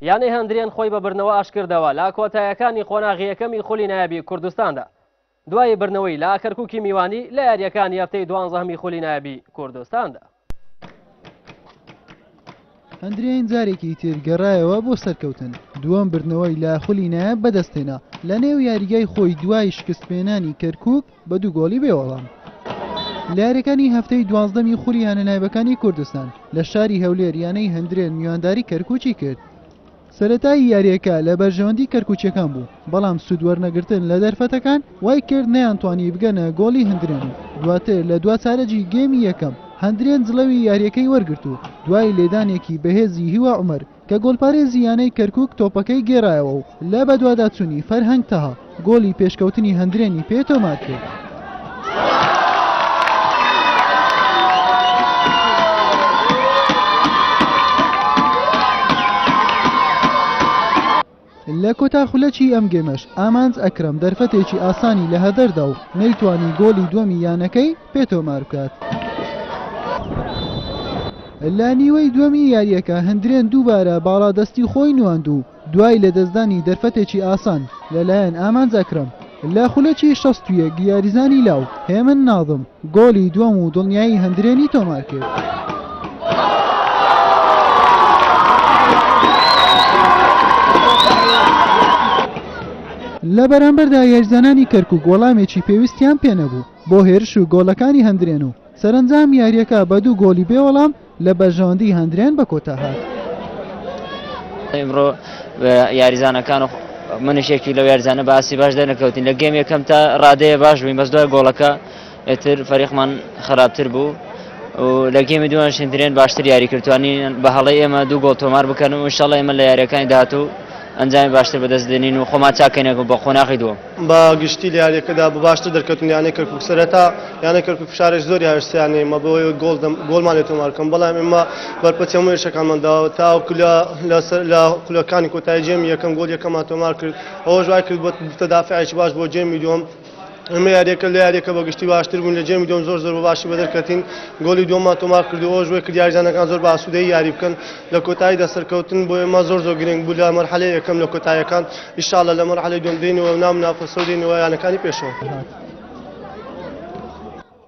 یانەی هەندرێن خۆی بە بردنەوە ئاشتکردەوە لە کۆتایەکانی قۆناغی یەکەمی خولی نایابی کوردستاندا، دوای بردنەوەی لە کەرکوکی میوانی لە یارییەکانی هەفتەی دوانزەهەمی خولی نایابی کوردستاندا. هەندرێن جارێکی تر گەڕایەوە بۆ سەرکەوتن، دووەم بردنەوەی لە خولی نایاب بەدەستهێنا لەنێو یاریگای خۆی دوای شکستپێنانی کەرکوک، بە دوو گۆڵی بێ وەڵام لە یاریەکانی هەفتەی دوازدەمی خولی یانە نایبەکانی کوردستان لە شاری هەولێر یانەی هەندرێن میوانداری کەرکوچی کرد سەرەتایی یاریەکە لە بەرژەوەندی کەرکوچەکان بوو بەڵام سوود وەرنەگرتن لە دەرفەتەکان وای کرد نەیان توانی بگەنە گۆڵی هەندرێن و دواتر لە دوا چارەجی گێمی یەکەم هەندرێن جڵەوی یاریەکەی وەرگرت و دوای لێدانێکی بەهێزی هیوا عومەر کە گۆلپارێزی یانەی کەرکوک تۆپەکەی گێرایەوە و لە بەدواداچونی فەرهەنگ تەها گۆلی پێشکەوتنی هەندرێنی پێ تۆمارکرد. لە کۆتا خولەکی ئەم گێمەش ئامانج ئەکرەم دەرفەتێکی ئاسانی لە هەدەردا و نەیتوانی گۆڵی دووەمی یانەکەی پێ تۆماربکات. لە نیوەی دووەمی یارییەکە هەندرێن دووبارە باڵادەستی خۆی نواند و دوای لەدەستدانی دەرفەتێکی ئاسان لەلایەن ئامانج ئەکرەم لە خولەکی شەست و یەک یاریزانی لاو هێمن ناظم، گۆلی دووەم و دڵنیایی هەندرێنی تۆمارکرد. لە بەرامبەردا یاریزانانی کەرکوک وەڵامێکی پێویستیان پێنەبوو بۆ هێرش و گۆڵەکانی هەندرێن و سەرەنجام یارییەکە بە دوو گۆڵی بێوەڵام لە بەرژەوەندی هەندریان بە کۆتا هات. ئیمڕۆ یاریزانەکان و منش یەکی لەو یاریزانە باسی باش دەرنەکەوتین لە گەم یەکەم تا ڕادەیە باش بووین بەس دوای گۆڵەکە ئێتر فەریقمان خراپتر بوو لە گەمی دووان شندرێن باشتر یاری کردوانی بە هەڵی ئێمە دوو گۆڵ تۆمار بکەن و شڵ ئێمە لە یاریەکانی داهات و ئەنجامی باشتر بەدەست دێنین و خۆمان چاکەینەکە بە قۆناغی دووە بە گشتی لە یاریەکەدا بە باشتر دەرکەوتن یانەی کەرکک سەرەتا یانە کەرکک فشارێک زۆری هاوێستیانێ مە بۆ گۆڵ گۆڵمان لێ تۆمارکەم بەڵام ئێمە بەرپەچ هەموو یشەکانمان داوە تا کولە لەسەر لە کولەکانی کۆتای جێمی یەکەم گۆل یەکەمان تۆمار کرد ئەوە ژای کرد بۆ تەدافعێکی باش بۆ جێمی دوم ئەمە یاریەکە لە یاریەکە بە گشتی باشتر بوون لە جێمی دوم زۆر زۆر بە باشی بەدەرکەتین گۆلی دوما تۆمار کردەوە ژێ کرد یاریزانەکان زۆر باسوودەی یاری بکەن لە کۆتایی دەسەرکەوتن بۆ ئێمە زۆر زۆر گرنگ بوو لە مەرحەلەیەکەم لە کۆتایەکان ئیشاڵا لە مەرحەلەی دووەم دێینەوە و نامنا پەسەو دێینەوە یانەکانی پێشەوە.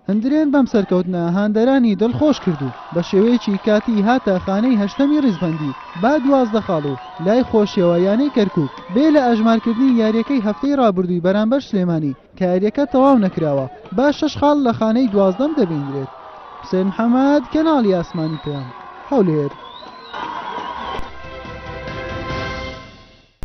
هەندرێن بەم سەرکەوتنە هاندەرانی دڵخۆش کرد و بە شێوەیەکی کاتی هاتە خانەی هەشتەمی ڕیزبەندی با دوازدە خاڵ و لای خۆشیەوە یانەی کەرکوک بێ لە ئەژمارکردنی یاریەکەی هەفتەی ڕابردووی بەرامبەر سلێمانی کە یاریەکە تەواو نەکراوە با شەش خاڵ لە خانەی دوازدەم دەبینرێت. حوسێن محەمەد، کەناڵی ئاسمانی پەیام، هەولێر.